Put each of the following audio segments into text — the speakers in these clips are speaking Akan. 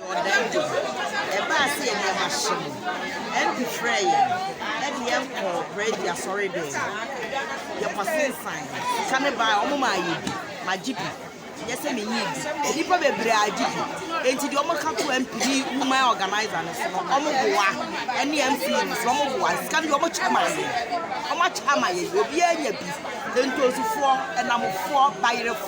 Ɔdan de, ɛbaa sɛ nneɛma hye no, MP frɛɛ yɛn de yɛn kɔɔ Prɛdi asɔredan mu. Yɛkɔsensan. Sika no bae, wɔmaa yɛn bi. Magye bi. Ɛnyɛ sɛ minyii bi. Nnipa bebree agye bi. Enti deɛ wɔka too MP ne Woman Organiser no so no, wɔboa, ɛne MP no nso, wɔboa. Sika no deɛ, wɔkyɛ maa yɛn. Wɔakyɛ ama yɛn. Obiara anya bi. Ntonsifoɔ, nnamfoɔ, bayerefoɔ.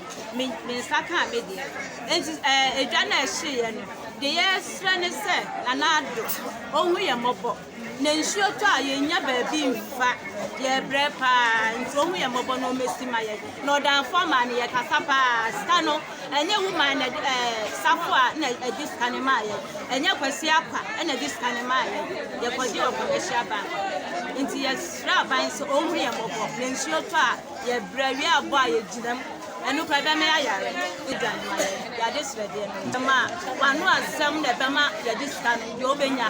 me me nsa kaa me deɛ enti ɛɛ eh, edwa na ɛhyeeɛ no deɛ yɛresrɛ ne sɛ nana ado ɔhu yɛn mmɔbɔ na nsuo tɔ a yɛnya baabi mfa yɛbrɛ paa nti ɔhu yɛn mmɔbɔ na ɔmɛsi ma yɛn na ɔdanfoɔ maa no yɛkasa paa sika no ɛnyɛ woman na ɛɛ eh, safo a na ɛde sika no maa yɛn ɛnyɛ kwasi akwa ɛna ɛde sika no maa yɛn yɛkɔgye wɔ commercial bank nti yɛsrɛ aban sɛ ɔhu yɛn mmɔbɔ na nsuo tɔ a Yɛbrɛ wie a bɔ a yɛgyina mu ɛno koraa ɛbɛma yɛayare ne gya no ma yɛn yɛade srɛdeɛ no ɛma wano asɛm na ɛbɛma yɛde sika no deɛ wobɛnya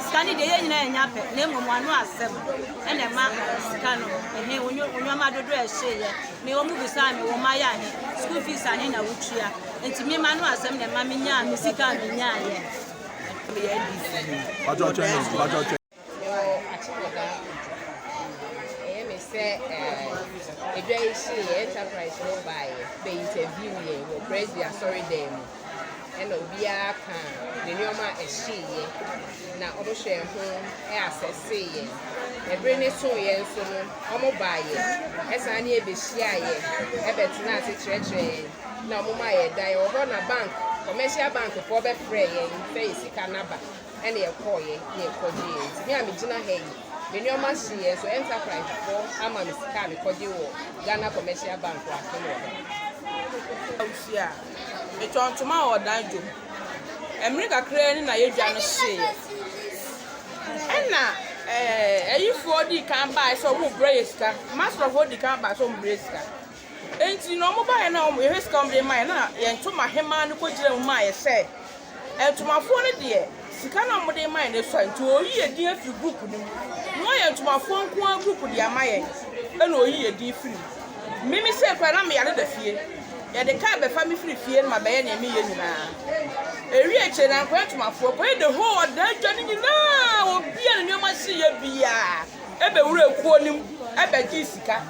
sika no deɛ yɛ nyina yɛnya pɛ na mmom wano asɛm ɛna ɛma sika no ɛhe wonwama dodoɔ ɛhyeeɛ me wɔ mu bisaa me wɔ ma yɛ ahe school fees ahe na wotua nti me ma no asɛm na ɛma menyaa me sika a menyaeɛ Mewɔ Akyekɔdaa Ojukwu. Ɛyɛ me sɛ eh, edwa yi hyeeɛ, Enterprise no baeɛ bɛ interview yɛn wɔ Presby asɔredan mu. Ɛna obiara ka ne nneɛma a ɛhyeeɛ, na wɔhwɛɛ ho asɛsee yɛn. Ɛbere no soeɛ nso no, wɔbaeɛ, ɛsan ne yɛn bɛhyiaa yɛn, ɛbɛtenaa ase kyerɛkyerɛɛ yɛn, na wɔmaa yɛn dan. Ɛwɔ hɔ na bank, commercial bank foɔ bɛfrɛɛ yɛn sɛ yɛn sika no aba. ɛna yɛkɔɔeɛ na yɛkɔgyeeɛ nti me a megyina ha yi me nneɛma hyeeɛ so Enterprise foɔ ama me sika a mekɔgye wɔ Ghana Commercial Bank wɔ Atem wɔ hɔ. Awusie a metɔn ntoma wɔ ɔdan dwom mmere kakraa ni na yɛdwa no hyeeɛ ɛna ɛɛ ayifoɔ dii kan baaɛ sɛ wɔn brɛ yɛ sika masrɔfoɔ dii kan baaɛ sɛ wɔn brɛ sika Enti na wɔbaeɛ no a, yɛhwɛ sika a wɔde maeɛ no, na yɛn ntomahemaa no kɔgyinaa mu maa yɛhyɛeɛ. Ntomafoɔ no deɛ, sika no a wɔde maeɛ no asua, enti ɔreyi yɛn din afiri group no mu. Na wayɛ ntomafoɔ nko ara group de ama yɛn, ɛnna ɔreyi yɛn din firi mu. Me, me sei koraa, na meyɛ ade da fie. Yɛde kaa bɛfa me firi fie na mabɛyɛ deɛ mereyɛ nyinaa. Ɛwiee akyire no, ankɔyɛ ntomafoɔ, kɔyɛ the whole ɔdaa dwa no nyinaa, obiara ne nneɛma sii yɛ biara. bɛwuraa kuo no mu bɛgyee sika.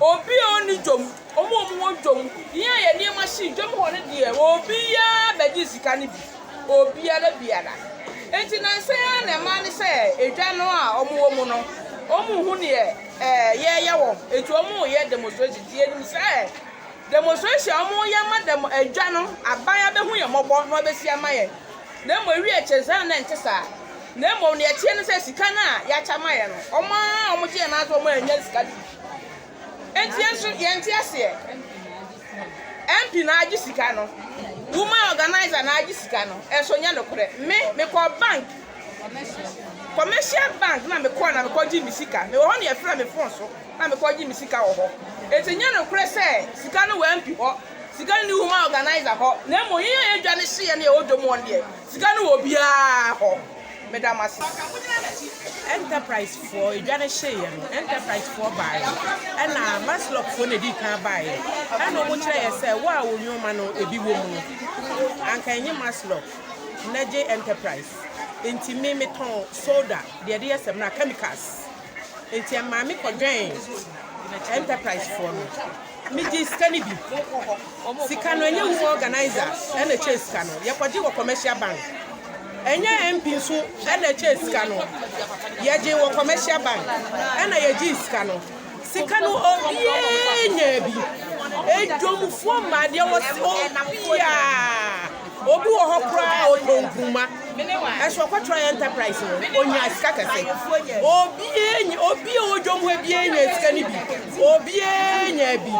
Obi a ɔnni dwom, wɔn a wɔwɔ dwom, yɛn a yɛn nneɛma hyee dwom hɔ no deɛ, obiara bɛgyee sika no bi. Obiara biara. Enti nnansa yi ara na ɛmaa ne sɛ edwa no a wɔwɔ mu no, wɔnhu deɛ yɛreyɛ wɔ ho. Enti wɔreyɛ demonstration. Enti yɛnim sɛ demonstration a wɔreyɛ ama dɛm edwa no, aban abɛhu yɛn mmɔbɔ na wɔabɛsi ama yɛn. Na mmom awiei ɛkyerɛ saa no na ɛnte saa. Na mmom nea ɛteɛ ne sɛ sika no a yɛakyɛ ama yɛn no, wɔn a wɔgye yɛn no ara nso wɔannya sika no bi. Enti yɛn nso yɛnte aseɛ. MP na agye sika no, woman organiser na agye sika no, ɛnso nyɛ nokorɛ. Me, mekɔ bank, commercial bank na mekɔ na mekɔgye me sika. Mewɔ hɔ na yɛfrɛ me phone so na mekɔgye me sika wɔ hɔ. Enti nyɛ nokorɛ sɛ sika no wɔ MP hɔ. Sika nni hɔ ma organiser hɔ na mmom yɛn a yɛdwa no hyeɛ ne yɛwɔ dwom wɔn deɛ sika no wɔ obiara hɔ. Meda mo ase. Enterprise foɔ edwa no hyeeɛ no enterprise foɔ baaeɛ ɛna Maslok foɔ na edii kan baaeɛ ɛna ɔmo kyerɛ yɛ sɛ wo a wo nnoɔma no ebi wɔ mu no anka ɛnye Maslok na gye enterprise nti me me tɔn soda deɛ ɛde yɛ samina chemicals. Enti ɛmaa me kɔdwɛn enterprise foɔ no. Me gyee sika no bi. Sika no ɛnyɛ wo organizer ɛna ɛkyɛ sika no. Yɛkɔgye wɔ commercial bank. Ɛnyɛ MP nso ɛna ɛkyɛ sika no. Yɛgye wɔ commercial bank ɛna yɛgye sika no. Sika no obiara nyaa bi. Edwomfoɔ mmaa deɛ wɔsi obiara. Obi wɔ hɔ koraa a ɔtɔ nkruma nso ɔkɔtra enterprise no ɔnya sika kɛse. Obiara nya obi a ɔwɔ dwom hɔ biara nya sika no bi. Obiara nya bi.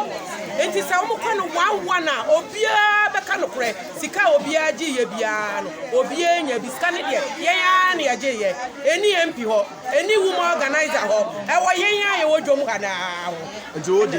Nti sɛ wɔkɔ no one one a obiara bɛka nokorɛ. Sika a obiara gyeeɛ biara no obiara nya bi. Sika no deɛ yɛn ara na yɛgyeeɛ. Ɛnni MP hɔ, ɛnni woman organiser hɔ, ɛwɔ yɛn a yɛwɔ dwom ha no ara hɔ.